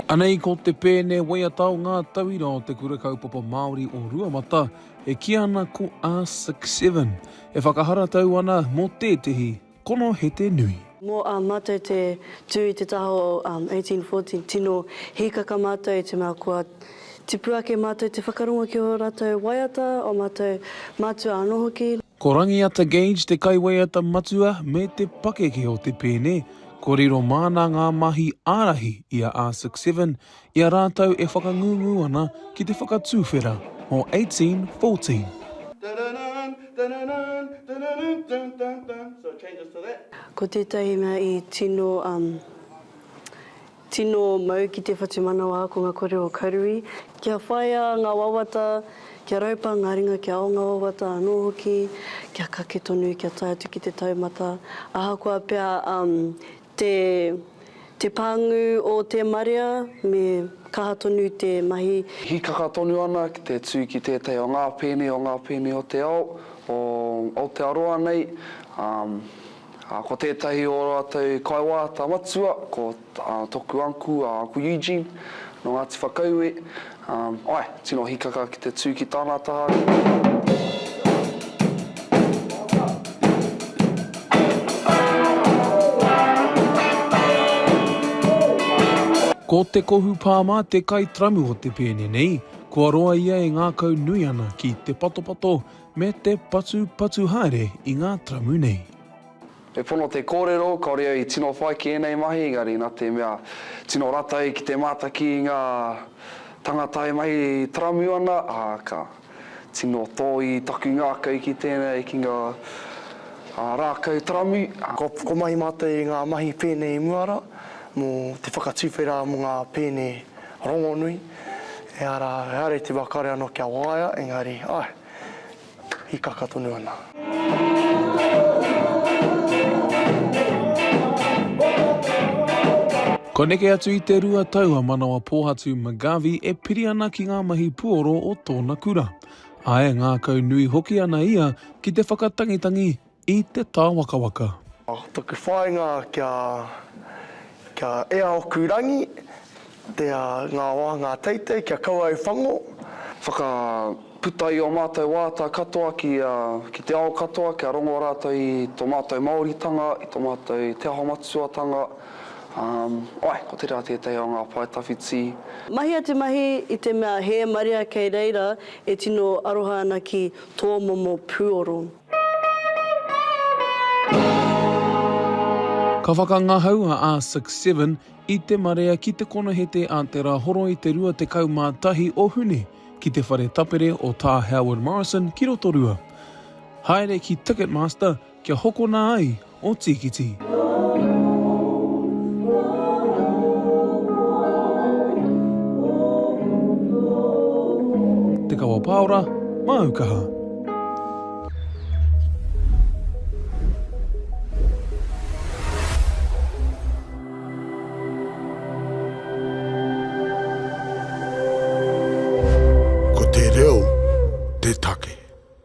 Anei ko te pēne waiata o ngā tauira o te Kura Kaupapa Māori o Ruamata e kī ana ko a Six Seven e whakaharatau ana mō tētehi Kono he te nui. Mo a matou te tu i te taha o 1814 tino hikaka matou i te mea kua tipu ake matou te whakarongo ki o ratou waiata, o matou matua ano hoki. Ko Rangiata Gage te kaiwaiata matua me te pakeke o te pēne, kua riro māna ngā mahi ārahi i a Arctic Seven i a rātou e whakangungu ana ki te whakatuwhera o 1814. Ko tētahi mea i tino um tino mau ki te whatumanawa ko nga kore o Karui, kia whaia nga wawata, kia raupa nga ringa kia ao nga wawata anō hoki, kia kake tonu kia tae atu ki te taumata, ahakoa pea um Te Te pāngu o te marea me kaha tonu te mahi. Hīkaka tonu ana ki te tū ki tētahi o ngā pēne o ngā pēne o te ao o Aotearoa nei, ā, ko tētahi o ō rātou kaiwāata matua ko toku uncle, a Uncle Eugene, nō Ngāti Whakaue, Ae, tino hikaka ki te tu ki tana taha. Ko Te Kohu Pāmā te kai tramu o te pēne nei, kua roa ia e ngākau nui ana ki te patopato me te patupatu haere i ngā tramu nei. He pono te kōrero, kāore au i tino whai ki ēnei mahi, engari nā te mea tino ratai ki te mātaki i ngā tangata e mahi taramu ana, ā, ka tino tōi taku ngākau ki tēnei, ki ngā rākau taramu. Kua whakamahi mātou i ngā mahi pēne i mua rā, mō te whakatuwhera mō ngā pēne rongonui, ehara, ehara i te wā kāore anō kia waea, engari, āe, hikaka tonu ana. Kua neke atu i te rua tau a Manawa Pōhatu McGarvey e piri ana ki ngā mahi puoro o tōna kura. Āe, ngākau nui hoki ana ia ki te whakatangitangi I te tāwakawaka. Ko taku whāinga kia kia ea oku rangi te a ngā wāhangā teitei kia kaua au whango. Whakaputa i o mātou wāta katoa ki a ki te ao katoa kia rongo rātou i to mātou Māoritanga i to mātou Te Aho Matututanga ae ko tera tētahi o ngā pae tawhiti. Mahi a te mahi i te mea hē marea kei reira e tino aroha ana ki tō momo puoro. Ka whakangahau a R6 Seven i te marea ki te konohete a Te Rahoro i te 21 o Hune ki te whare tapere o Tā Howard Morrison ki Rotorua. Haere ki Ticketmaster kia hokona ai o Tīkiti. Te Kawa Pāora, māu kaha. Ko te reo te take.